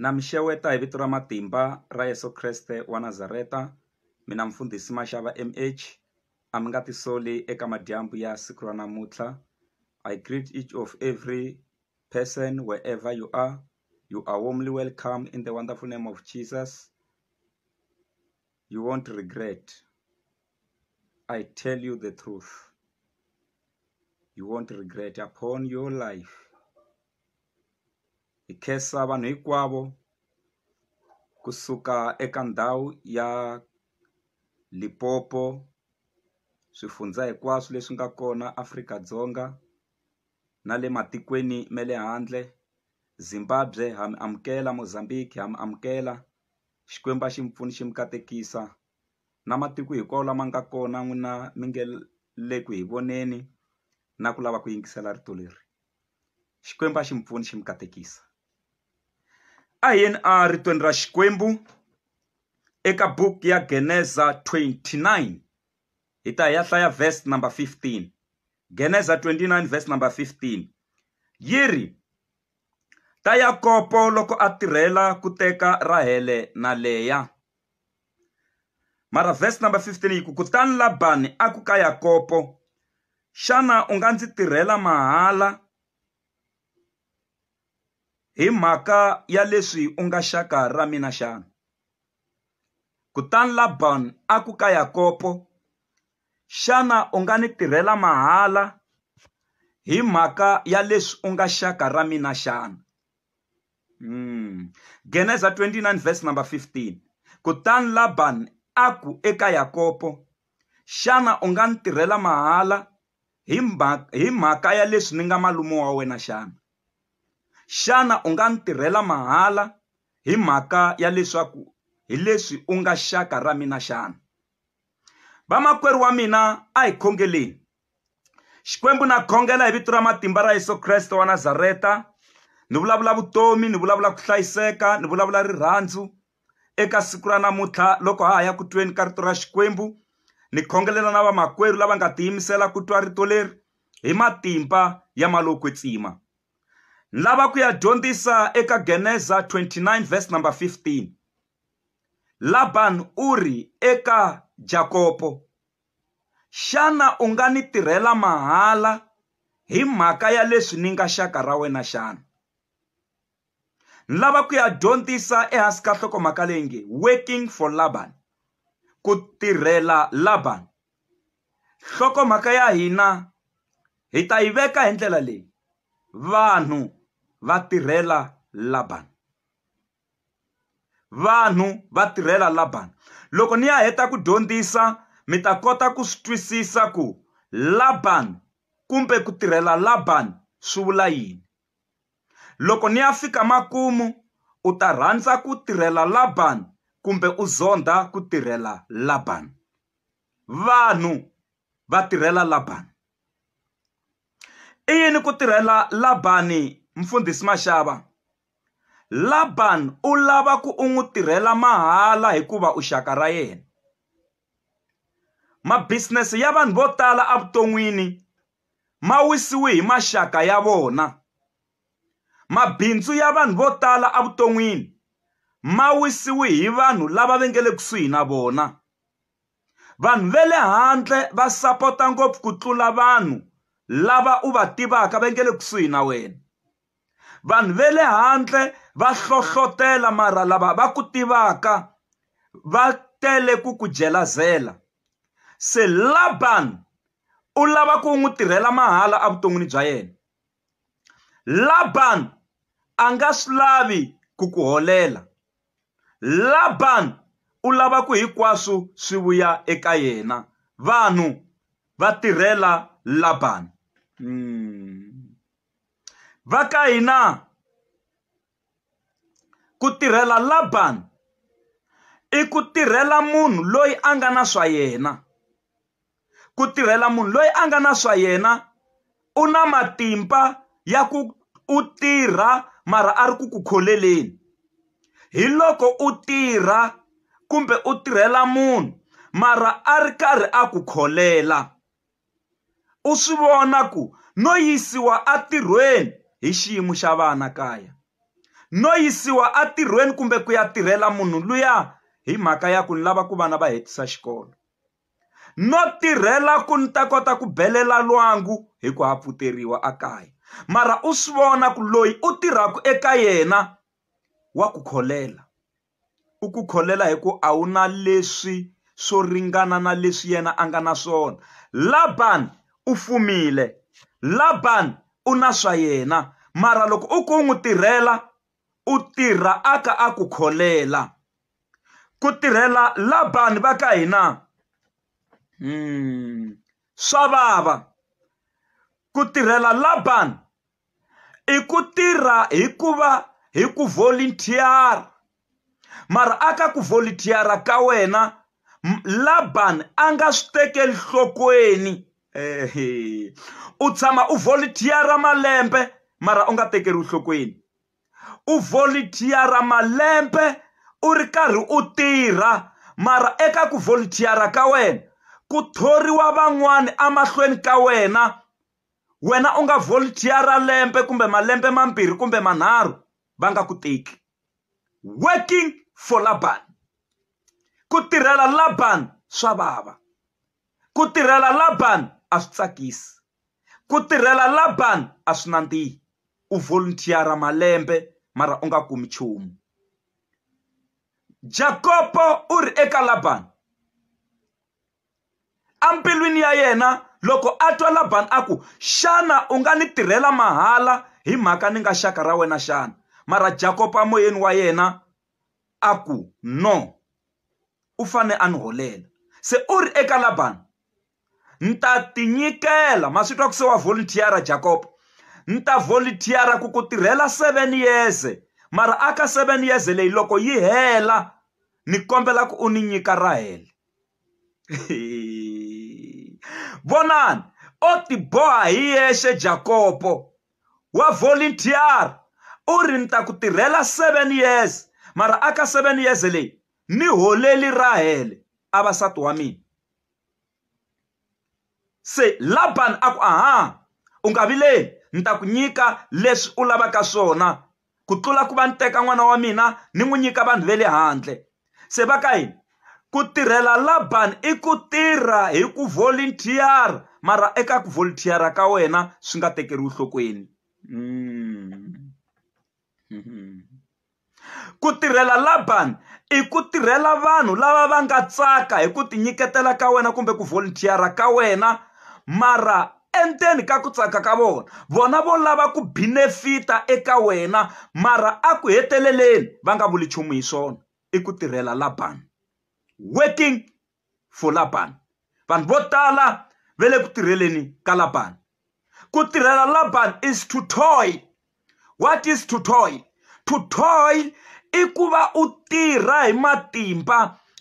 Na mi xeweta hi vito ra matimba ra Yeso Kreste wa Nazareta mina mfundhisi Mashava M_H a mi nga ti soli eka madyambu ya siku ra namuntlha I greet each of every person wherever you are you are warmly welcome in the wonderful name of Jesus you won't regret I tell you the truth you won't regret upon your life. hi khensa vanhu hinkwavo kusuka eka ndhawu ya Limpopo swifundzha hinkwaswo leswi nga kona Afrika-Dzonga na le matikweni ma le handle Zimbabwe ha mi amukela Mozambique ha mi amukela Xikwembu a xi mi pfuna xi mi katekisa na matiko hinkwawo lama nga kona n'wina mi nge le ku hi voneni na ku lava ku yingisela rito leri. xikwembu a xi mi pfuni xi mi katekisa a hi yeni a ritweni ra xikwembu eka buku ya geneza 29 hi ta hi ya hlaya verse number 15 geneza 29 verse number 15 yi ri ta yakopo loko a tirhela ku teka rahele na leya mara verse number 15 yi ku kutani labani a ku ka yakopo xana u nga ndzi tirhela mahala hi mhaka ya leswi u nga xaka ra mina xana kutani labani a ku ka yakopo xana u nga ni tirhela mahala hi mhaka ya leswi u nga xaka ra mina xana Mm. Geneza 29 verse number 15. Kutani Laban a ku eka Yakobo, xana u nga ni tirhela mahala hi mhaka, hi mhaka ya leswi ni nga malume wa wena xana? Xana u nga ni tirhela mahala hi mhaka ya leswaku hi leswi u nga xaka ra mina xana? Vamakwerhu wa mina a hi khongeleni. xikwembu na khongela hi vito ra matimba ra yesu kreste wa nazareta ni vulavula vutomi ni vulavula ku hlayiseka ni vulavula rirhandzu eka siku ra namuntlha loko ha ha ya ku tweni ka rito ra xikwembu ni khongelela na vamakwerhu lava nga tiyimisela ku twa rito leri hi matimba ya malokwetsima ni lava ku ya dyondzisa eka geneza 29 verse number 15 laban u ri eka jakopo Xana u nga ni tirhela mahala hi mhaka ya leswi ni nga xaka ra wena xana? Ni lava ku ya dyondzisa ehansi ka nhlokomhaka leyi nge Working for Laban, Ku Tirhela Laban. Nhlokomhaka ya hina hi ta yi veka hi ndlela leyi, Vanhu Va Tirhela Laban. vanhu va tirhela Labani. Loko ni ya heta ku dyondzisa, mi ta kota ku swi twisisa ku Labani kumbe ku tirhela Labani swi vula yini. Loko ni ya fika makumu, u ta rhandza ku tirhela Labani kumbe u zondha ku tirhela Labani. Vanhu va tirhela Labani. I yini ku tirhela Labani, Mfundhisi Mashava? Laban u lava ku u n'wi tirhela mahala hikuva u xaka ra yena. Ma-business ya vanhu vo tala evuton'wini ma wisiwe hi maxaka ya vona. Mabindzu ya vanhu vo tala evuton'wini ma wisiwe hi vanhu lava va nga le kusuhi na vona. Vanhu va le handle va sapota ngopfu ku tlula vanhu lava u va tivaka va nga le kusuhi na wena. vanhu ve le handle va hlohlotela mara lava va ku tivaka va tele ku ku jelazela se laban u lava ku n'wi tirhela mahala evuton'wini bya yena laban a nga swi lavi ku ku holela laban u lava ku hinkwaswo swi vuya eka yena vanhu va tirhela laban mm. va ka hina ku tirhela Laban i ku tirhela munhu loyi a nga na swa yena ku tirhela munhu loyi a nga na swa yena u na matimba ya ku u tirha mara a ri ku ku kholeleni hi loko u tirha kumbe u tirhela munhu mara a ri karhi a ku kholela u swi vona ku no yisiwa entirhweni hi xiyimo xa vana kaya no yisiwa entirhweni kumbe ku ya tirhela munhu luya hi mhaka ya ku ni lava ku vana va hetisa xikolo no tirhela ku ni ta kota ku belela lwangu hi ku ha pfuteriwa ekaya mara u swi vona ku loyi u tirhaka eka yena wa ku kholela. u ku kholela hi ku a wu na leswi swo ringana na leswi yena a nga na swona Laban u fumile Laban u na swa yena mara loko u ku u n'wi tirhela u tirha a ka a ku kholela ku tirhela Laban va ka hina swa vava ku tirhela Laban. i ku tirha hi ku va hi ku volunteer-a mara a ka ku volunteer-a ka wena Laban a nga swi tekeli nhlokweni u tshama u volunteer-a malembe mara u nga tekeriwi nhlokweni u volunteer-a malembe u ri karhi u tirha mara eka ku volunteer-a ka wena ku thoriwa van'wani emahlweni ka wena wena u nga volunteer-a lembe kumbe malembe mambirhi kumbe manharhu va nga ku teki working for laban ku tirhela laban swa vava ku tirhela laban a swi tsakisi ku tirhela laban a swi nandzihi u volunteer-a malembe mara u nga kumi nchumu jakopo u ri eka laban embilwini ya yena loko a twa labani a ku xana u nga ni tirhela mahala hi mhaka ni nga xaka ra wena xana mara jakopa moyeni wa yena a ku no u fane a ni holela se u ri eka labani ni ta tinyikela ma swi twa ku se wa volunteer-a jakopa ni ta volunteer-a ku ku tirhela seven years mara aka seven years leyi loko yi hela ni kombela ku u ni nyika rahele vonani o tiboha hi yexe jakopo wa volunteer u ri ni ta ku tirhela seven years mara a ka seven years leyi ni holeli rahele a vasati wa mina se laban a ku aha u nga vileli ni ta ku nyika leswi u lavaka swona ku tlula ku va ni teka n'wana wa mina ni n'wi nyika vanhu va le handle se va ka yini ku tirhela laban i ku tirha hi ku volunteer mara eka ku volunteer ka wena swi nga tekeriwi nhlokweni mm. ku tirhela laban i ku tirhela vanhu lava va nga tsaka hi ku tinyiketela ka wena kumbe ku volunteer ka wena mara endzeni ka ku tsaka ka vona vona vo lava ku binefita eka wena mara a ku heteleleni va nga vuli nchumu hi swona i ku tirhela labani working for labani vanhu vo tala ve le ku tirheleni ka labani ku tirhela labani is to toy what is to toil to toil i ku va u tirha hi matimba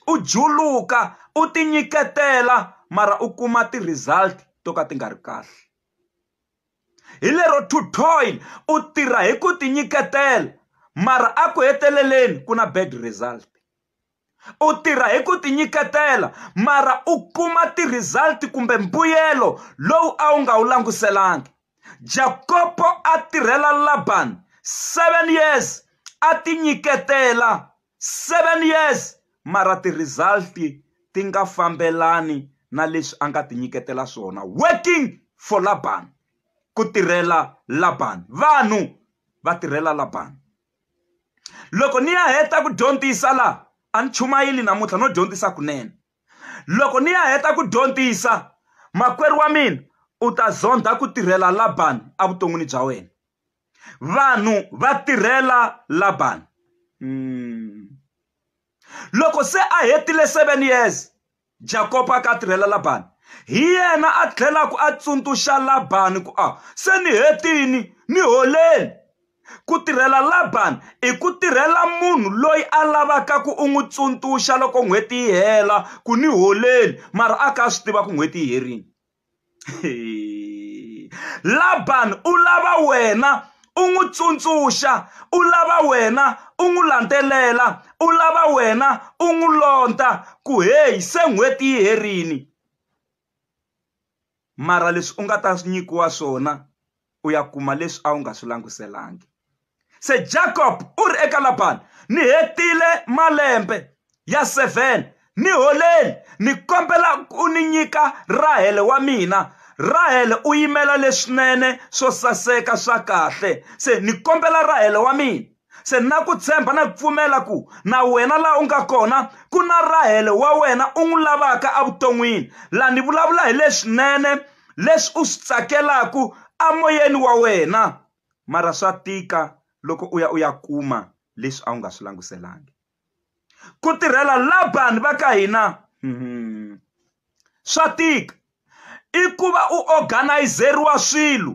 u juluka u ti nyiketela mara u kuma ti-result to ka ti nga ri kahle hi lero to toil u tirha hi ku ti nyiketela mara a ku heteleleni ku na bad result u tirha hi ku ti nyiketela mara u kuma ti-result kumbe mbuyelo lowu a wu nga wu languselanga jakopo a tirhela labani seven years a ti nyiketela seven years mara ti-result ti nga fambelani na leswi a nga ti nyiketela swona working for labani ku tirhela labani vanhu va tirhela labani loko ni ya heta ku dyondzisa laha a ni chumayeli namuntlha no dyondzisa kunene loko ni ya heta ku dyondzisa makwerhu wa mina u ta zondha ku tirhela labani evuton'wini bya wena vanhu va tirhela labani loko se a hetile seven years Jakopo a ka a tirhela Labani. Hi yena a tlhelaka a tsundzuxa Labani ku a se ni hetini ni holeni. Ku tirhela Labani i ku tirhela munhu loyi a lavaka ku u n'wi tsundzuxa loko n'hweti yi hela ku ni holeni mara a ka a swi tiva ku n'hweti yi herini. Laban u lava wena u n'wi tsundzuxa u lava wena u n'wi landzelela u lava wena u n'wi londza ku heyi se n'hweti yi herile mara leswi u nga ta nyikiwa swona. u ya kuma leswi a wu nga swi languselanga se jacob u ri eka labani ni hetile malembe ya seven ni holeni ni kombela u ni nyika rahele wa mina rahele u yimela leswinene swo saseka swa kahle se ni kombela rahele wa mina se na ku tshemba na ku pfumela ku na wena laha u nga kona ku na rahele wa wena u n'wi lavaka evuton'wini laha ni vulavula hi leswinene leswi u swi tsakelaka emoyeni wa wena mara swa tika loko u ya u ya kuma leswi a wu nga swi languselangi ku tirhela labani va ka hina hmm. swa tika i ku va u organizeriwa swilo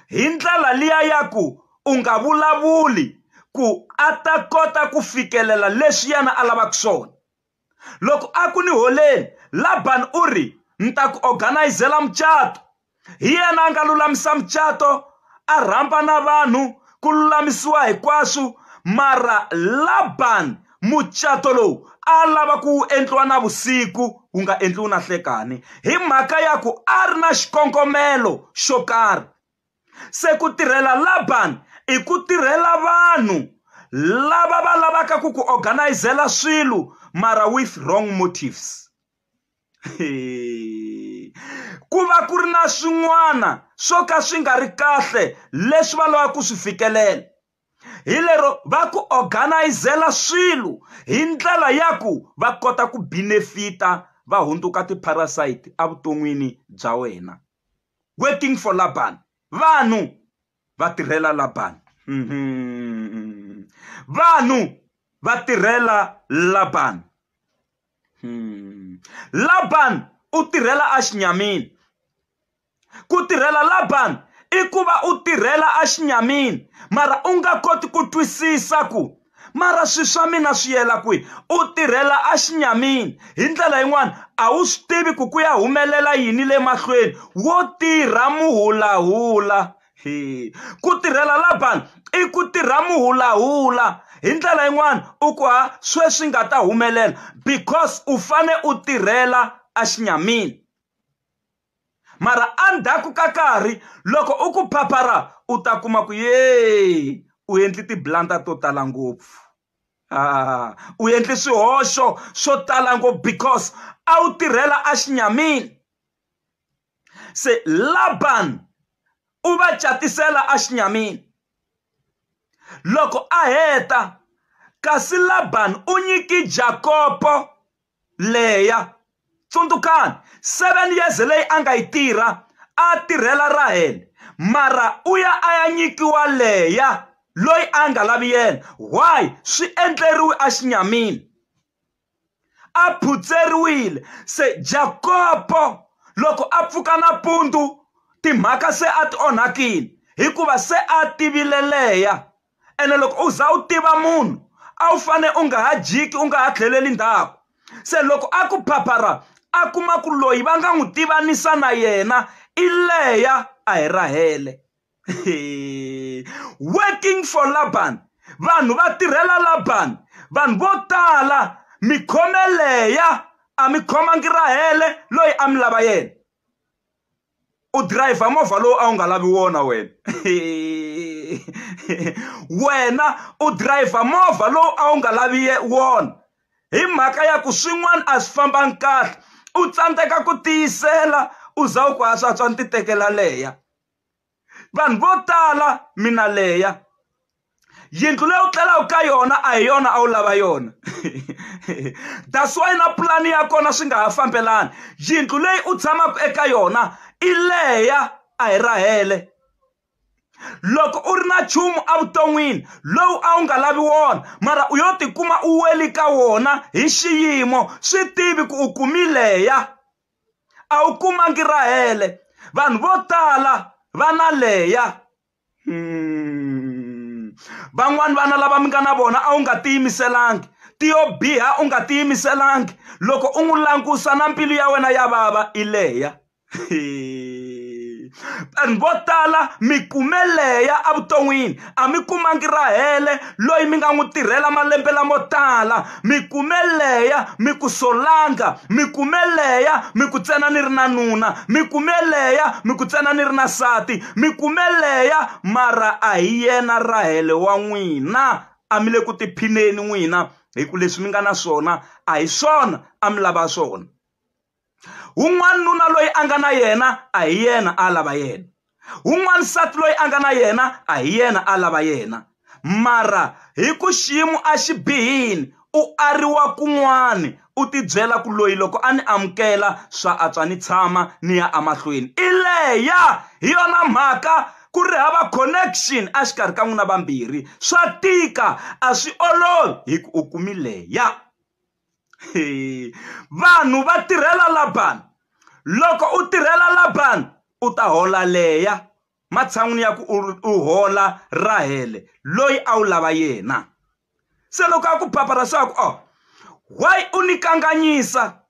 hi ndlela liya ya ku u nga vulavuli ku a ta kota ku fikelela leswi yena a lavaka swona loko a ku ni holeni labani u ri ni ta ku organizela mucato hi yena a nga lulamisa mucato a rhamba na vanhu ku lulamisiwa hinkwaswo mara laban mucato lowu a lava ku wu endliwa na vusiku wu nga endliwi na hlekani hi mhaka ya ku a ri na xikongomelo xo karhi se ku tirhela laban i ku tirhela vanhu lava va lavaka ku ku organizela swilo mara with wrong motives ku va ku ri na swin'wana swo ka swi nga ri kahle leswi va lavaka ku swi fikelela hi lero va ku organizela swilo hi ndlela ya ku va kota ku benefit-a va hundzuka ti-parasite evuton'wini bya wena waiting for laban vanhu va tirhela laban vanhu va tirhela laban. Laban u tirhela exinyamini ku tirhela Laban i ku va u tirhela exinyamini mara u nga koti ku twisisa ku mara swi swa mina swi yela kwihi u tirhela exinyamini hi ndlela yin'wani a wu swi tivi ku ku ya humelela yini le mahlweni wo tirha muhulahula. ku tirhela Laban i ku tirha muhulahula hi ndlela yin'wana u ku ha sweswi nga ta humelela because u fane u tirhela a xinyamini mara endzhaku ka karhi loko u ku phaphara u ta kuma ku yee u endli tiblanda to tala ngopfu ah, u endli swihoxo swo tala ngopfu because a wu tirhela a xinyamini se labani u va catisela exinyamini loko a heta kasi labani u nyiki jakopo leya tsundzukani seven years leyi a nga yi tirha a tirhela rahele mara u ya a ya nyikiwa leya loyi a nga lavi yena why swi endleriwe exinyamini a phutseriwile. Se Jakopo loko a pfuka nampundzu timhaka se a ti onhakile hikuva se a tivile leya ene loko u za u tiva munhu a wu fane u nga ha jiki u nga ha tlheleli ndhaku se loko a ku phaphara a kuma ku loyi va nga n'wi tivanisa na yena i leya a hi rahele working for laban vanhu va tirhela laban vanhu vo tala mi khomeleya a mi khomangi rahele loyi a mi lava yena u dirayivha movha lowu a wu nga lavi wona wena wena u dirayivha movha lowu a wu nga lavi wona hi mhaka ya ku swin'wana a swi fambangi kahle u tsandzeka ku tiyisela u za u ku ha swatswa ni ti tekela leya vanhu vo tala mina leya yindlu leyi u tlelaka ka yona a hi yona a wu lava yona that's why na pulani ya kona swi nga ha fambelani yindlu leyi u tshamaka eka yona i leya a hi rahele loko u ri na nchumu evuton'wini lowu a wu nga lavi wona mara u yo tikuma u weli ka wona hi xiyimo swi tivi ku u kumileya a wu kumangi rahele vanhu vo tala va na leya hmm. van'wani vana lava mi nga na vona a wu nga tiyimiselangi tiyo biha u nga tiyimiselangi loko u n'wi langusa na mbilu ya wena ya vava i leya vanhu vo tala mi kume leya evuton'wini a mi kumangi rahele loyi mi nga n'wi tirhela malembe lamo tala mi kume leya mi ku solanga mi kume leya mi ku tsena ni ri na nuna mi kume leya mi ku tsena ni ri na sati mi kume leya mara a hi yena rahele wa n'wina a mi le ku tiphineni n'wina hi ku leswi mi nga na swona a hi swona a mi lava swona wun'wana nuna loyi a nga na yena a hi yena a lava yena wun'wana nsati loyi a nga na yena a hi yena a lava yena mara hi ku xiyimo a xi bihini u ariwa kun'wani u tibyela ku loyi loko a ni amukela swa antswa ni tshama ni ya emahlweni i leya hi yona mhaka ku ri hava connection exikarhi ka n'wina vambirhi swa tika a swi olovi hi ku u kumi leya vanhu va tirhela labani loko u tirhela labani u ta hola leya matshan'wini ya ku u hola rahele loyi a wu lava yena se loko a ku papa ra swaku o oh, why u ni kanganyisa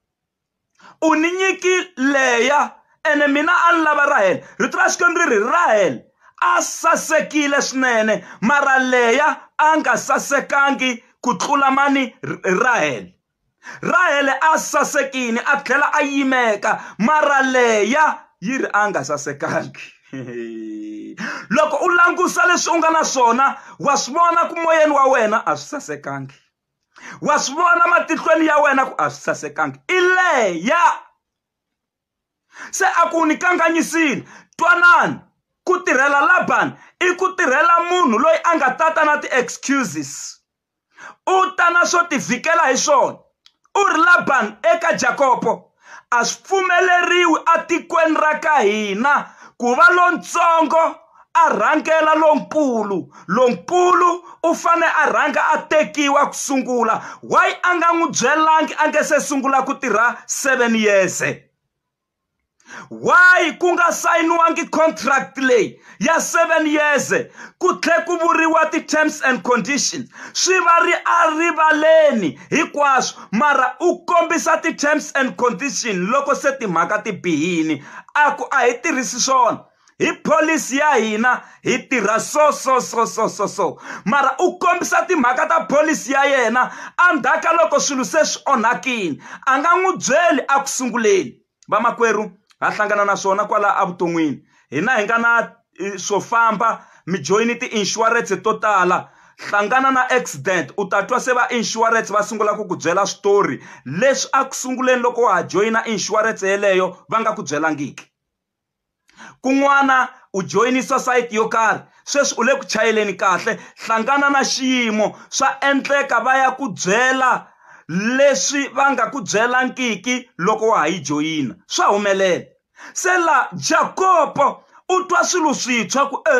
u ni nyiki leya ene mina a ni lava rahele rito ra xikwembu ri ri rahele a sasekile swinene mara leya a nga sasekangi ku tlula mani rahele rahele a sasekile a tlhela a yimeka mara leya yi ri a nga sasekangi loko u langusa leswi u nga na swona wa swi vona ku moyeni wa wena a swi sasekangi wa swi vona matihlweni ya wena ku a swi sasekanga i leya se a ku ni kanganyisile twanani ku tirhela labani i ku tirhela munhu loyi a nga tata na ti-excuses u ta na swo tivhikela hi swona u ri labani eka jakopo a swi pfumeleriwi etikweni ra ka hina ku va lontsongo a rhangela lonkulu lonkulu u fane a rhanga a tekiwa ku sungula why a nga n'wi byelangi a nge se sungula ku tirha seven years why ku nga sayiniwangi contract leyi ya 7 years ku tlhe ku vuriwa ti-terms and conditions swi va ri a rivaleni hinkwaswo mara u kombisa ti-terms and condition loko se timhaka ti bihini a ku a hi tirhisi swona hi pholisi ya hina hi tirha so so so so so so mara u kombisa timhaka ta pholisi ya yena endzhaku ka loko swilo se swi onhakile a nga n'wi byeli eku sunguleni vamakwerhu ha hlangana na swona kwala evuton'wini hina hi nga na swo famba mi joyini ti-insurance to tala hlangana na accident u ta twa se va insurance va sungula ku ku byela switori leswi a ku sunguleni loko wa ha joyina insurance yeleyo va nga ku byelangiki kun'wana u joyinisa sayiti yo karhi sweswi u le ku chayeleni kahle hlangana na xiyimo swa endleka va ya ku byela leswi va nga ku byelangiki loko wa ha yi joyina swa humelela se la jakopo u twa swilo swintshwa ku e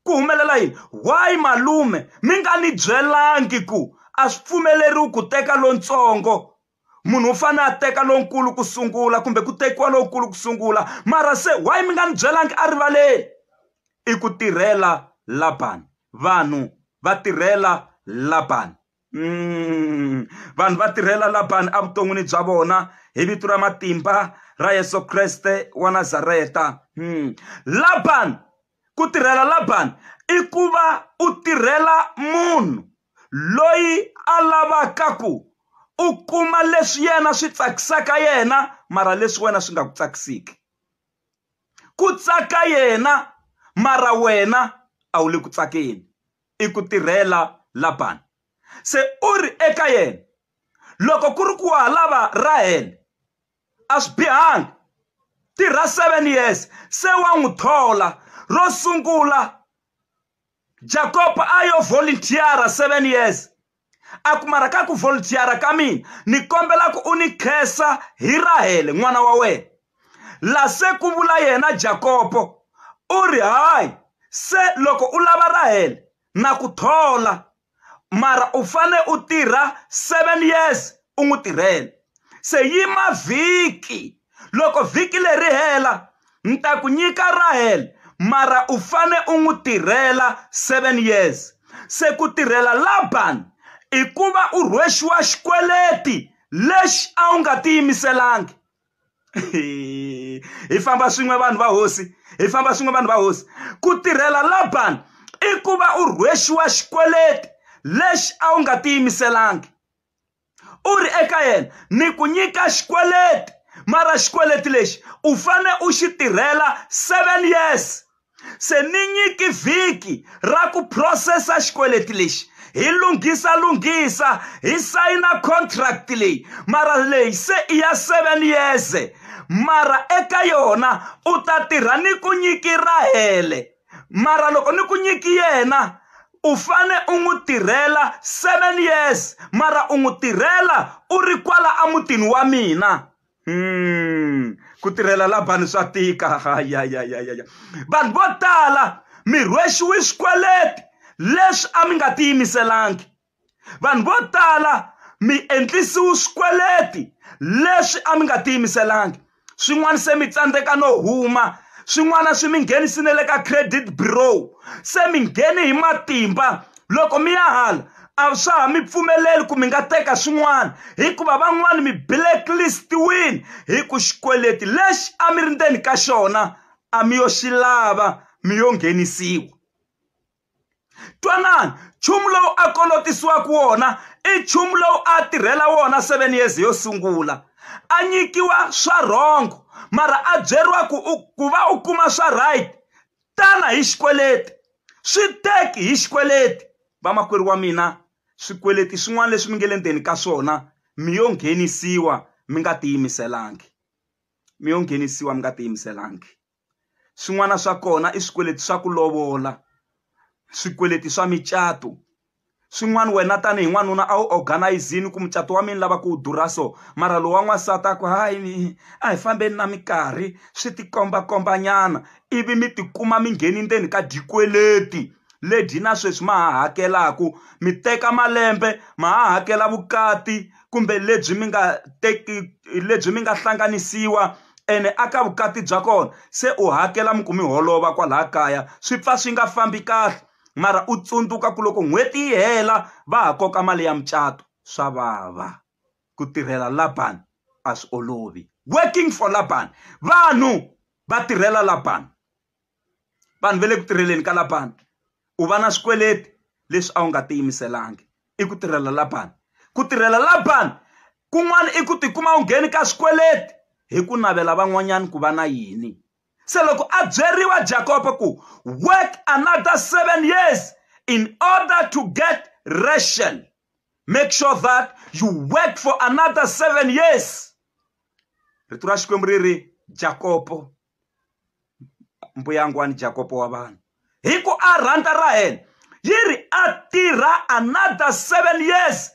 ku humelela yini why malume mi nga ni byelangi ku a swi pfumeleriwi ku teka lontsongo munhu u fanele a teka lonkulu ku sungula kumbe ku tekiwa lonkulu ku sungula mara se why mi nga ni byelangi a rivaleni i ku tirhela labani vanhu va tirhela labani mm. vanhu va tirhela labani evuton'wini bya vona hi vito ra matimba ra yesu kreste wa nazareta mm. labani ku tirhela labani i ku va u tirhela munhu loyi a lavaka ku u kuma leswi yena swi tsakisaka yena mara leswi wena swi nga ku tsakisiki ku tsaka yena mara wena a wu le ku tsakeni i ku tirhela Laban se u ri eka yena loko ku ri ku wa ha lava Rahele a swi bihanga tirha seven years se wa n'wi thola ro sungula jakob a yo voluntiara seven years a kumara ka ku voluntiara ka mina ni kombela ku u ni khensa hi rahele n'wana wa wena la se ku vula yena jakopo u ri hayi se loko u lava rahele na ku thola mara u fane u tirha seven years u n'wi tirhela se yima vhiki loko vhiki leri hela ni ta ku nyika rahel mara u fane u n'wi tirhela seven years se ku tirhela laban i ku va u rhwexiwa xikweleti lexi a wu nga tiyimiselangi hi famba swin'we vanhu va hosi hi famba swin'we vanhu va hosi ku tirhela labani i ku va u rhwexiwa xikweleti lexi a wu nga tiyimiselangi u ri eka yena ni ku nyika xikweleti mara xikweleti lexi u fane u xi tirhela seven years se ni nyiki vhiki ra ku phurosesa xikweleti lexi hi lunghisa lunghisa hi sayina contract leyi mara leyi se i ya seven years mara eka yona u ta tirha ni ku nyiki rahele mara loko ni ku nyiki yena u fane u n'wi tirhela seven years mara u n'wi tirhela u ri kwala emutini wa mina Hmm. ku tirhela labani swa tika hayayayaya vanhu vo tala mi rhwexiwe swikweleti leswi a mi nga tiyimiselangi vanhu vo tala mi endlisiwe swikweleti leswi a mi nga tiyimiselangi swin'wana se mi tsandzeka no huma swin'wana swi mi nghenisile le ka credit bureau se mi nghene hi matimba loko mi ya hala a swa ha mi pfumeleli ku mi nga teka swin'wana hikuva van'wani mi blacklist-wini hi ku xikweleti lexi a mi ri ndzeni ka xona a mi yo xi lava mi yo nghenisiwa twanani nchumu lowu a kolotisiwaka wona i nchumu lowu a tirhela wona seven years yo sungula a nyikiwa swa rhongo mara a byeriwa ku u ku va u kuma swa right tana hi xikweleti swi teki hi xikweleti vamakwerhu wa mina swikweleti swin'wana leswi mi nge le ndzeni ka swona mi yo nghenisiwa mi nga tiyimiselangi mi yo nghenisiwa mi nga tiyimiselangi swin'wana swa kona i swikweleti swa ku lovola swikweleti swa micato swin'wana wena tanihi n'wanuna a wu organizini ku mucato wa mina lava ku wu durha so mara lowa n'wansati a ku hayi a hi fambeni na minkarhi swi tikombakhombanyana ivi mi tikuma mi ngheni ndzeni ka dyikweleti lebyi na sweswi ma ha hakelaka mi teka malembe ma ha hakela vukati kumbe lebyi mi nga teki lebyi mi nga hlanganisiwa ene a ka vukati bya kona se u hakela mi ku mi holova kwalaha kaya swi pfa swi nga fambi kahle mara u tsundzuka ku loko n'hweti yi hela va ha koka mali ya mucato swa vava ku tirhela laban a swi olovi working for laban vanhu va tirhela laban vanhu va le ku tirheleni ka laban u va na swikweleti leswi a wu nga tiyimiselangi i ku tirhela laban ku tirhela laban kun'wana i ku tikuma u ngheni ka swikweleti hi ku navela van'wanyana ku va na yini se loko a byeriwa jakoba ku work another seven years in order to get ration make sure that you work for another seven years rito ra xikwembu ri ri jakopo mbuyangwani jakopo wa vanhu hi ku a rhanda ra hena yi ri a tirha another seven years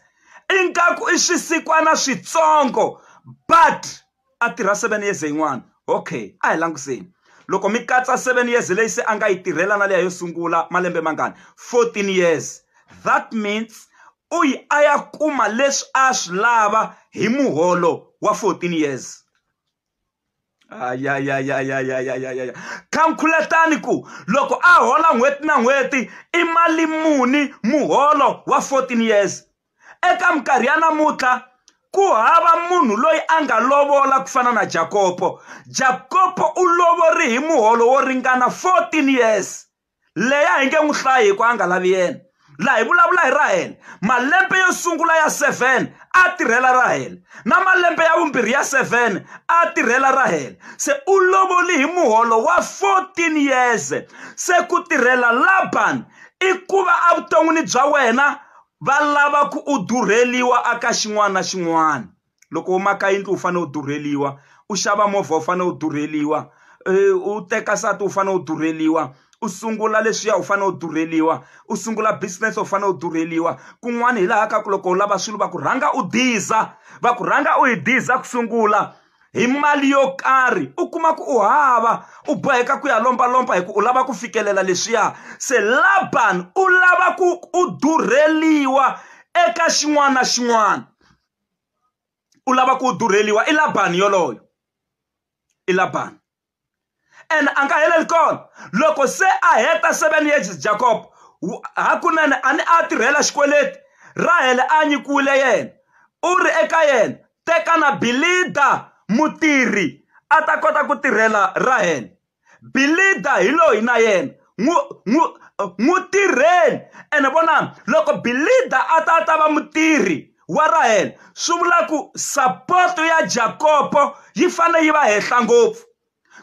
ingaku i swisikwana switsongo but a tirha seven years yin'wana okay a hi langutiseni loko mi katsa seven years leyi se a nga yi tirhela na leya yo sungula malembe mangani fourteen years that means u yi a ya kuma leswi a swi lava hi muholo wa fourteen years ayayayayayayayaya khamkhuletani ku loko a hola n'hweti na n'hweti i mali muni muholo wa 14 years eka minkarhi ya namuntlha ku hava munhu loyi a nga lovola ku fana na jakopo jakopo u lovori hi muholo wo ringana 14 years leya hi nge n'wi hlayi hi ku a nga lavi yena laha hi vulavula hi rahele malembe yo sungula ya 7 a tirhela rahele na malembe ya vumbirhi ya 7 a tirhela rahele se u lovoli hi muholo wa 14 years se ku tirhela laban i ku va evuton'wini bya wena va lava ku u durheliwa aka xin'wana na xin'wana loko u maka yindlu u fanele u durheliwa u xava movha u fanele u durheliwa u teka nsati u fanele u durheliwa u sungula leswiya u fanele u durheliwa u sungula business u fanele u durheliwa kun'wana hi laha ka ku loko u lava swilo va ku rhanga u diza va ku rhanga u yi diza ku sungula hi mali yo karhi u kuma ku u hava u boheka ku ya lombalomba hi ku u lava ku fikelela leswiya se laban u lava ku u durheliwa eka xin'wana na xin'wana u lava ku durheliwa i labani yoloye i labani ene a nga heleli kona loko se a heta seven years jacob hakunene a ni a tirhela xikweleti rahele a nyikiwile yena u ri eka yena teka na bilida mutirhi a ta kota ku tirhela rahele Bilida hi loyi na yena n'wi n'wi n'wi tirheni ene vonani loko bilida a ta a ta va mutirhi wa rahela swi vula ku sapoto ya jakopo yi fanele yi va henhla ngopfu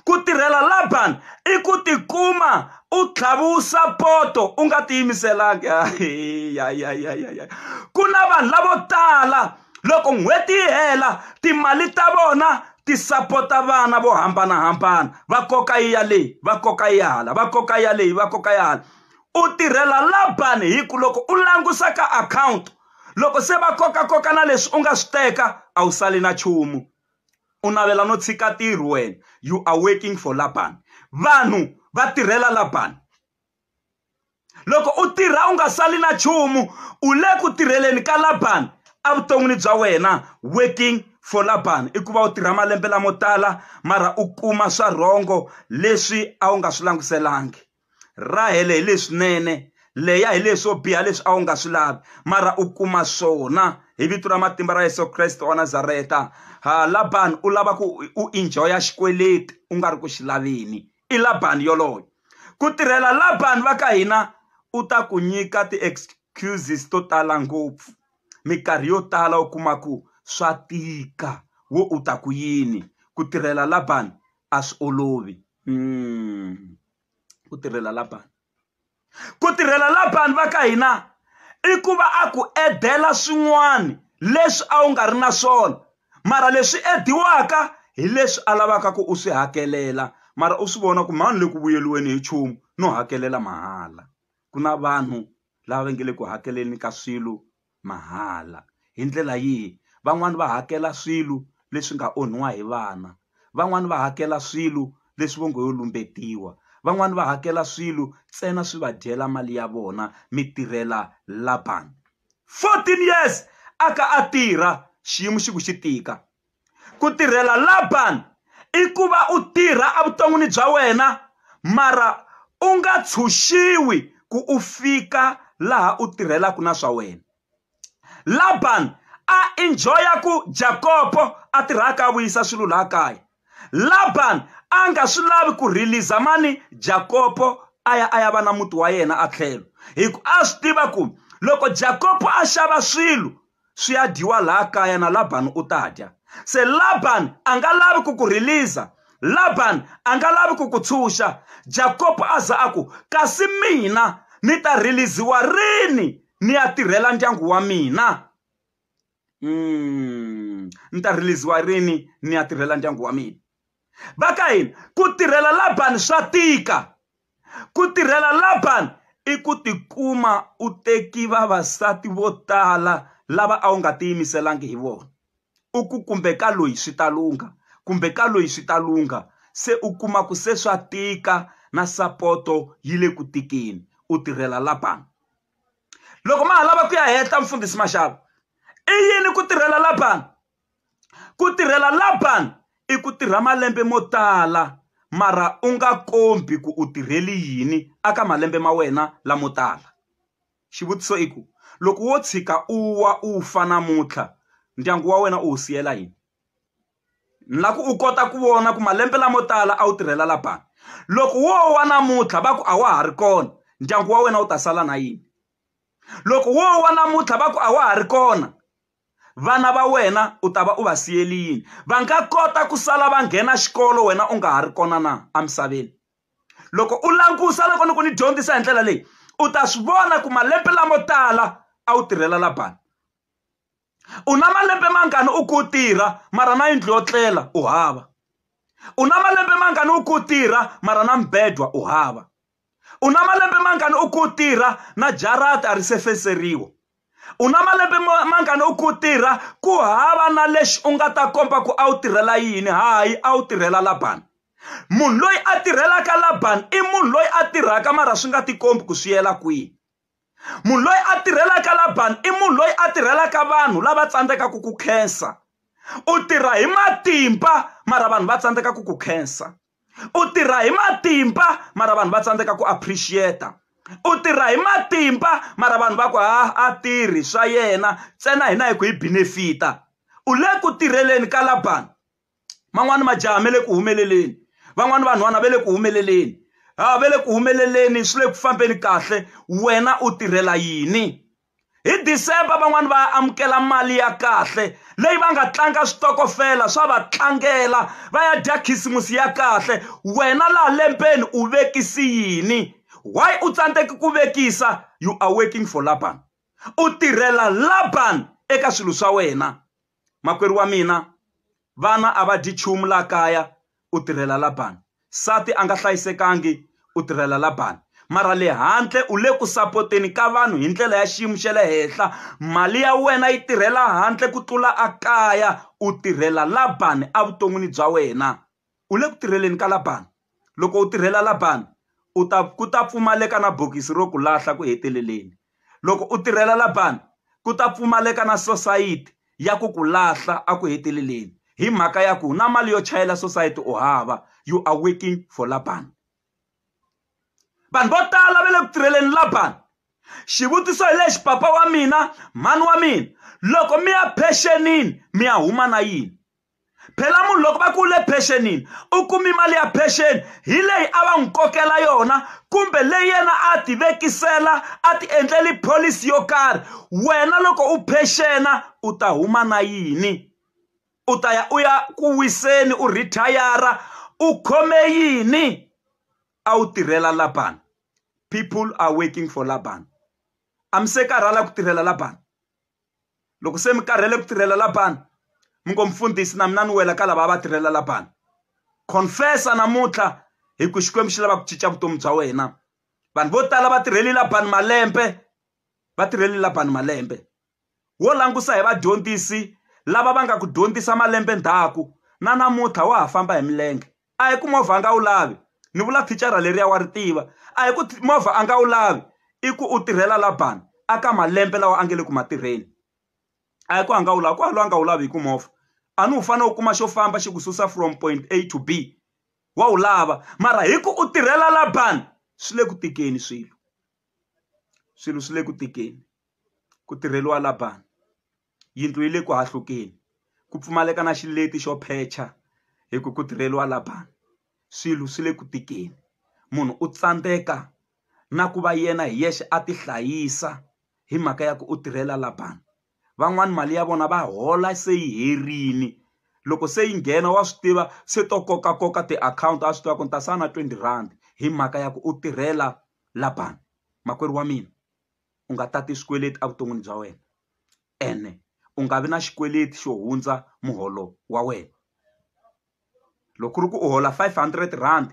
ku tirhela labani i ku tikuma u tlhaviwu sapoto u nga tiyimiselanga ku na vanhu lavo tala loko n'hweti yi hela timali ta vona ti sapota vana vo hambanahambana va koka yi ya leyi va koka yi hala va koka ya leyi va koka ya hala u tirhela labani hi ku loko u langusa ka akhawunti loko se va kokakoka na leswi u nga swi teka a wu sali na nchumu u navela no tshika ntirho wena you are working for labani vanhu va tirhela labani loko u tirha u nga sali na nchumu u le ku tirheleni ka labani evuton'wini bya wena working for labani i ku va u tirha malembe lamo tala mara u kuma swa rhongo leswi a wu nga swi languselangi rahele hi leswinene leya hi leswo biha leswi a wu nga swi lavi mara u kuma swona hi vito ra matimba ra yesu kreste wa nazareta ha labani u lava ku u enjoya xikweleti u nga ri ku xi laveni i labani yoloye ku tirhela labani va ka hina u ta ku nyika ti-excuses to tala ngopfu minkarhi yo tala u kuma ku swa tika wo u ta ku yini ku tirhela labani a swi olovi mm. ku tirhela labani ku tirhela labani va ka hina i ku va a ku edela swin'wana leswi a wu nga ri na swona mara leswi ediwaka hi leswi a lavaka ku u swi hakelela mara u swi vona ku mhani le ku vuyeliweni hi nchumu no hakelela mahala ku na vanhu lava va nge le ku hakeleni ka swilo mahala hi ndlela yihi van'wani va hakela swilo leswi nga onhiwa hi vana van'wani va hakela swilo leswi vo ngo yo lumbetiwa van'wani va hakela swilo ntsena swi va dyela mali ya vona mi tirhela Laban 14 years a ka a tirha xiyimo xi ku xi tika ku tirhela Laban i ku va u tirha evuton'wini bya wena mara u nga tshunxiwi ku u fika laha u tirhelaka na swa wena Laban a enjoya ku Jakopo a tirhaka a vuyisa swilo laha kaya Laban a nga swi lavi ku release mani Jakopo a ya a ya va na muti wa yena a tlhelo hi ku a swi tiva ku loko Jakopo a xava swilo swi ya dyiwa laha kaya na Laban u ta dya se Laban a nga lavi ku ku release Laban a nga lavi ku ku tshunxa Jakob a za a ku kasi mina ni ta release-iwa rini ni ya tirhela ndyangu wa mina mm, ni ta release-iwa rini ni ya tirhela ndyangu wa mina va ka hina ku tirhela labani swa tika ku tirhela labani i ku tikuma u teki vavasati vo tala lava a wu nga tiyimiselangi hi vona u ku kumbe ka loyi swi ta lungha kumbe ka loyi swi ta lungha se u kuma ku se swa tika na sapoto yi le ku tikeni u tirhela labani loko ma ha lava ku ya hehla mfundhisi maxava i yini ku tirhela labani Ku tirhela Laban i ku tirha malembe mo tala mara u nga kombi ku u tirheli yini a ka malembe ma wena lamo tala. Xivutiso i ku, loko wo tshika u wa u fa namuntlha ndyangu wa wena u wu siyela yini? Ni lava ku u kota ku vona ku malembe lamo tala a wu tirhela Laban, loko wo wa namuntlha va ku a wa ha ri kona ndyangu wa wena wu ta sala na yini? Loko wo wa namuntlha va ku a wa ha ri kona vana va wena u ta va u va siyeli yini va nga kota ku sala va nghena xikolo wena u nga ha ri kona na emisaveni loko u langusa loko ni ku ni dyondzisa hi ndlela leyi u ta swi vona ku malembe lamo tala a wu tirhela labani u na malembe mangani u ku tirha mara na yindlu yo tlela u hava u na malembe mangani u ku tirha mara na mibedwa u hava U na malembe mangani u ku tirha na jarata ri se feseriwa? U na malembe mangani u ku tirha ku hava na lexi u nga ta komba ku a wu tirhela yini hayi a wu tirhela Labani munhu loyi a tirhelaka Labani i munhu loyi a tirhaka mara swi nga tikombi ku swi yela kwihi munhu loyi a tirhelaka Labani i munhu loyi a tirhelaka vanhu lava tsandzekaka ku khensa u tirha hi matimba mara vanhu va tsandzeka ku ku khensa u tirha hi matimba mara vanhu va tsandzeka ku appreciate u tirha hi matimba mara vanhu va ku ha a tirhi swa yena ntsena hina hi ku hi benefita u le ku tirheleni ka labani man'wani majaha me le ku humeleleni van'wani vanhwana ve le ku humeleleni ha ve le ku humeleleni swi le ku fambeni kahle wena u tirhela yini hi december van'wani va amukela mali ya kahle leyi va nga tlanga switokofela swa va tlangela va ya dya khisimusi ya kahle wena laha lembeni u vekisi yini why u tsandzeki ku vekisa you are working for laban u tirhela laban eka swilo swa wena Makwerhu wa mina, vana a va dyi nchumu laha kaya, u tirhela Labani. Nsati a nga hlayisekangi, u tirhela Labani. Mara le handle u le ku sapoteni ka vanhu hi ndlela ya xiyimo xa le henhla. Mali ya wena yi tirhela handle ku tlula ekaya, u tirhela Labani evuton'wini bya wena. u le ku tirheleni ka Labani loko u tirhela Labani u ta ku ta pfumaleka na bokisi ro ku lahla ku heteleleni loko u tirhela Labani ku ta pfumaleka na sosayiti ya ku ku lahla a ku heteleleni hi mhaka ya ku na mali yo chayela sosayiti u hava you are working for Labani vanhu vo tala va le ku tirheleni Labani xivutiso hi lexi papa wa mina mhani wa mina loko mi ya phexenini mi ya huma na yini phela munhu loko va ku le phexenini u kumi mali ya phexeni hi leyi a va n'wi kokela yona kumbe leyi yena a ti vekisela a ti endleli pholisi yo karhi wena loko u phexena u ta huma na yini u ta ya u ya ku wiseni u rhithayara u khome yini a wu tirhela labani people are working for labani a mi se karhala ku tirhela labani loko se mi karhele ku tirhela labani mi ngo mfundhisi na mina ni wela ka lava va tirhela labani confessa namuntlha hi ku xikwembu xi lava ku cinca vutomi bya wena vanhu vo tala va tirheli labani malembe va tirheli labani malembe wo langusa hi vadyondzisi lava va nga ku dyondzisa malembe ndzhaku na namuntlha wa ha famba hi milenge a hi ku movha a nga wu lavi ni vula thicara leriya wa ri tiva a hi ku movha a nga wu lavi i ku u tirhela la ban a ka malembe lawa a nge le ku ma tirheni a hi ku a nga wu lavi ku a lo a nga wu lavi hi ku movha a ni wu fanele u kuma xo famba xi ku susa from point a to b wa wu lava mara hi ku u tirhela la ban swi le ku tikeni swilo swilo swi le ku tikeni ku tirheliwa la ban yindlu yi le ku hahlukeni ku pfumaleka na xileti xo phecha hi ku ku tirheliwa la bangi swilo swi le ku tikeni munhu u tsandzeka na ku va yena hi yexe a ti hlayisa hi mhaka ya ku u tirhela la bangi van'wani mali ya vona va hola se yi herini loko se yi nghena wa swi tiva se to koka koka tiakhawunti a swi tiva ku ni ta sala na twenty rhandi hi mhaka ya ku u tirhela la bangi makwerhu wa mina. u nga tati swikweleti evuton'wini bya wena ene u nga vi na xikweleti xo hundza muholo wa wena loko ku ri ku u hola five hundred rand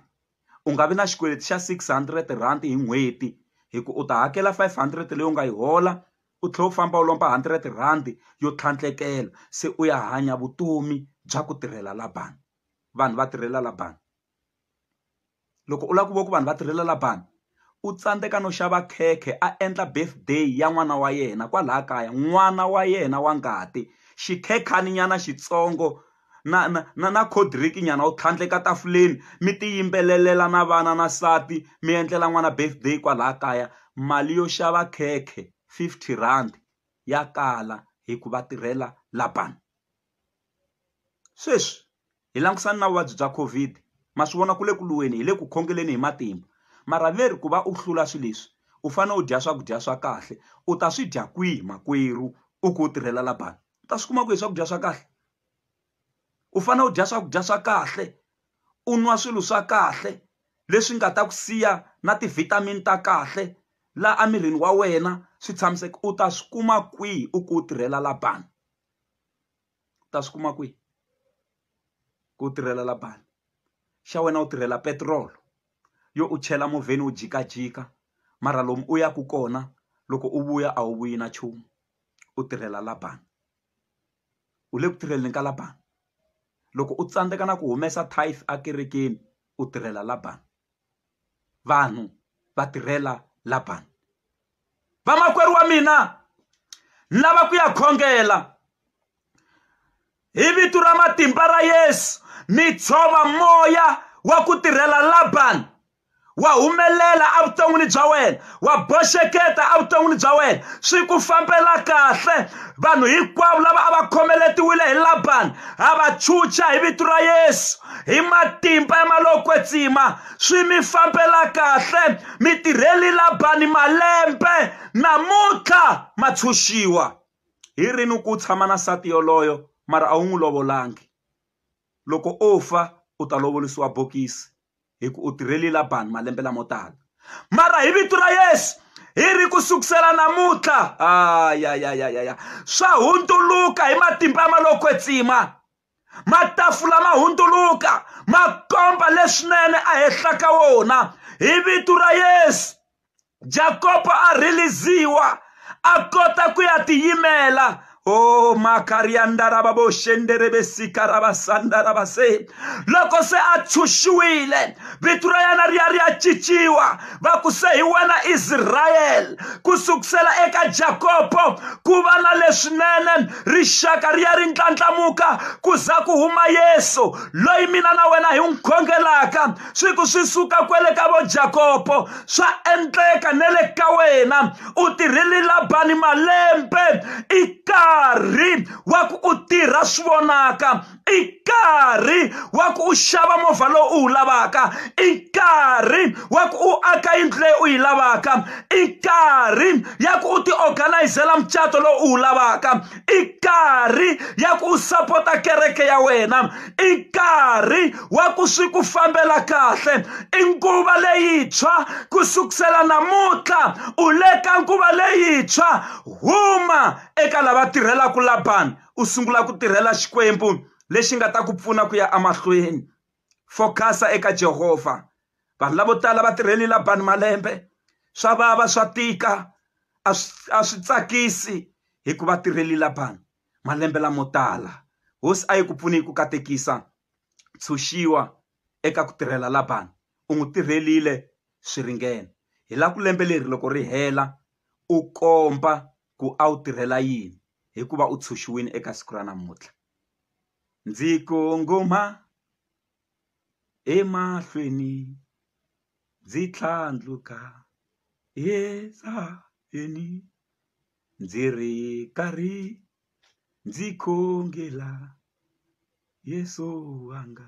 u nga vi na xikweleti xa six hundred rand hi n'hweti hi ku u ta hakela five hundred leyi u nga yi hola u tlhela u famba u lomba hundred rand yo tlhandlekela se u ya hanya vutomi bya ku tirhela la bangi vanhu va tirhela la bangi. loko u lava ku vona ku vanhu va tirhela la bangi u tsandzeka no xava khekhe a endla birthday ya n'wana wa yena kwalaya kaya n'wana wa yena wa ngati xikhekani nyana xitsongo na na na na cold drink nyana u tlhandleka tafuleni mi ti yimbelelela na vana na nsati mi endlela n'wana birthday kwalaya kaya mali yo xava khekhe fifty rand ya kala hikuva tirhela la bangi. sweswi hi langutisana na vuvabyi bya COVID ma swi vona ku le ku lweni hi le ku khongeleni hi matimba mara ve ri ku va u hlula swilo leswi u fanele u dya swakudya swa kahle u ta swi dya kwihi makwerhu u ku u tirhela la bangi u ta swi kuma kwihi swakudya swa kahle u fanele u dya swakudya swa kahle u nwa swilo swa kahle leswi nga ta ku siya na ti vitamin ta kahle laha emirini wa wena swi tshamiseka u ta swi kuma kwihi u ku u tirhela la bangi. u ta swi kuma kwihi ku tirhela la bangi xa wena u tirhela petiroli yo u chela movheni u jikajika mara lomu u yaka kona loko u vuya a wu vuyi na nchumu u tirhela la bangi u le ku tirheleni ka la bangi loko u tsandzeka na ku humesa tithe ekerekeni u tirhela la bangi vanhu va tirhela la bangi vamakwerhu wa mina lava ku ya khongela hi vito ra matimba ra yesu mi tshova moya wa ku tirhela labani wa humelela evuton'wini bya wena wa boxeketa evuton'wini bya wena swi ku fambela kahle vanhu hinkwavo lava a va khomeletiwile hi labani ha va chucha hi vito ra yesu hi matimba ya malokwetsima swi mi fambela kahle mi tirheli labani malembe namuntlha ma tshunxiwa hi rini ku tshama na nsati yoloyo mara a wu n'wi lovolangi loko o fa u ta lovolisiwa bokisi hi ku u tirheli labani malembe lamo tala mara hi vito ra yesu hi ri ku sukusela namuntlha ayayayaya swa hundzuluka hi matimba ya malokwetsima matafula ma hundzuluka ma komba leswinene a henhla ka wona hi vito ra yesu jakopo a rhiliziwa a kota ku ya tiyimela o makariyandarababoshenderebesikarabasandarabasehi loko se a tshushiwile vito ra yena ri ya ri ya cinciwa va ku se hi wena israyele ku sukusela eka jakobo ku va na leswinene rixaka ri ya ri ndlandlamuka ku za ku huma yesu loyi mina na wena hi n'wi khongelaka swi ku swi suka kwele ka vo jakobo swa endleka ne le ka wena u tirhile labani malembe i karhi wa ku u tirha swi vonaka i nkarhi wa ku u xava movha lowu u wu lavaka i nkarhi wa ku u aka yindlu leyi u yi lavaka i nkarhi ya ku u tiorganayizela mucato lowu u wu lavaka i nkarhi ya ku u sapota kereke ya wena i nkarhi wa ku swi ku fambela kahle i nguva leyintshwa ku sukusela namuntlha u le ka nguva leyintshwa huma eka lava tirhelaka labani u sungula ku tirhela Xikwembu lexi nga ta ku pfuna ku ya emahlweni focus-a eka Jehovha vanhu lavo tala va tirheli Labani malembe swa vava swa tika a swi a swi tsakisi hikuva tirheli Labani malembe lamo tala hosi a yi ku pfuni hi ku katekisa tshunxiwa eka ku tirhela Labani u n'wi tirhelile swi ringene hi la ku lembe leri loko ri hela u komba ku a wu tirhela yini hikuva u tshunxiwile eka siku ra namuntlha ndzi kongoma emahlweni ndzi tlhandluka emisaveni ndzi ri karhi ndzi khongela Yeso wanga.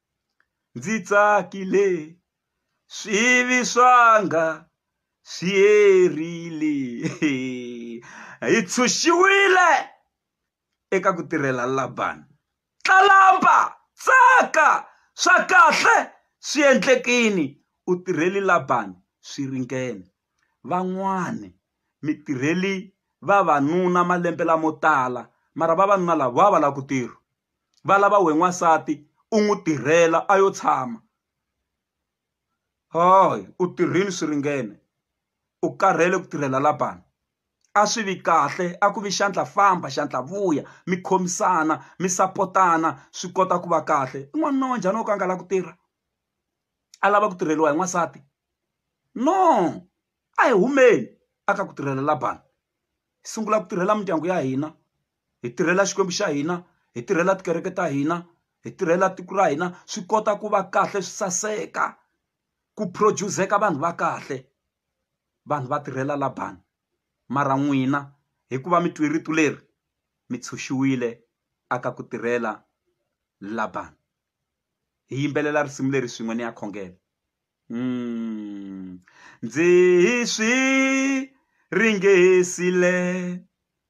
ndzi tsakile swivi swanga swi herile hi tshunxiwile eka ku tirhela Labani tlalamba tsaka swa kahle swi endlekini u tirheli Labani swi ringene van'wani mi tirheli vavanuna malembe lamo tala mara vavanuna lava va va lava ku tirha va lava wehe n'wansati u n'wi tirhela a yo tshama hayi u tirhile swi ringene u karhele ku tirhela Laban a swi vi kahle a ku vi xandla famba xandla vuya mi khomisana mi sapotana swi kota ku va kahle i n'wanuna wa njhani wo ka a nga lavi ku tirha a lava ku tirheliwa hi n'wansati no a hi humeni a ka ku tirhela Laban hi sungula ku tirhela mindyangu ya hina. hi tirhela xikwembu xa hina hi tirhela tikereke ta hina hi tirhela tiko ra hina swi kota ku va kahle swi saseka ku produce-eka vanhu va kahle vanhu va tirhela labani mara n'wina hikuva mi twi rito leri mi tshunxiwile aka ku tirhela labani hi yimbelela risimu leri swin'we ni ya khongela ndzi hi swi ringesile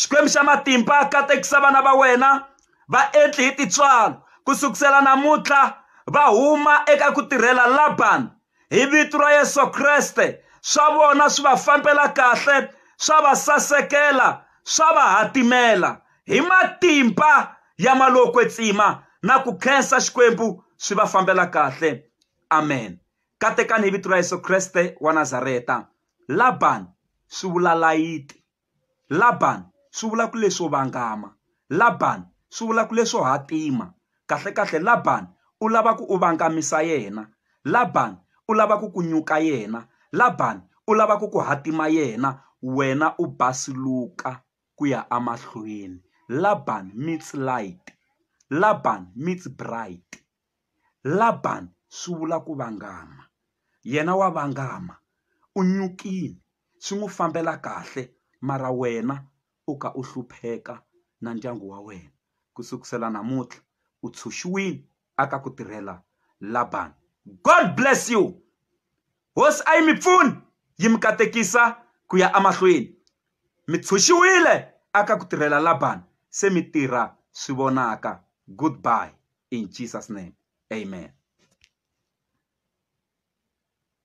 xikwembu xa matimba katekisa vana va wena va endli hi titswalo ku sukusela namuntlha va huma eka ku tirhela labani hi vito ra yesu kreste swa vona swi va fambela kahle swa va sasekela swa va hatimela hi matimba ya malokwe tsima na ku khensa xikwembu swi va fambela kahle amen katekani hi vito ra yesu kreste wa nazareta labani swi vula layiti Laban swi vula ku leswo vangama Laban swi vula ku leswo hatima kahlekahle Laban u lava ku u vangamisa yena Laban u lava ku ku nyuka yena Laban u lava ku ku hatima yena wena u basuluka ku ya emahlweni Laban meets light Laban meets bright. Laban swi vula ku vangama. Yena wa vangama, u nyukile, swi n'wi fambela kahle, mara wena u ka u hlupheka na ndyangu wa wena. Ku sukusela namuntlha u tshunxiwile aka ku tirhela Laban. God bless you! Hosi a yi mi pfuni, yi mi katekisa ku ya emahlweni. Mi tshunxiwile aka ku tirhela Laban, se mi tirha swi vonaka. Goodbye. in Jesus name amen.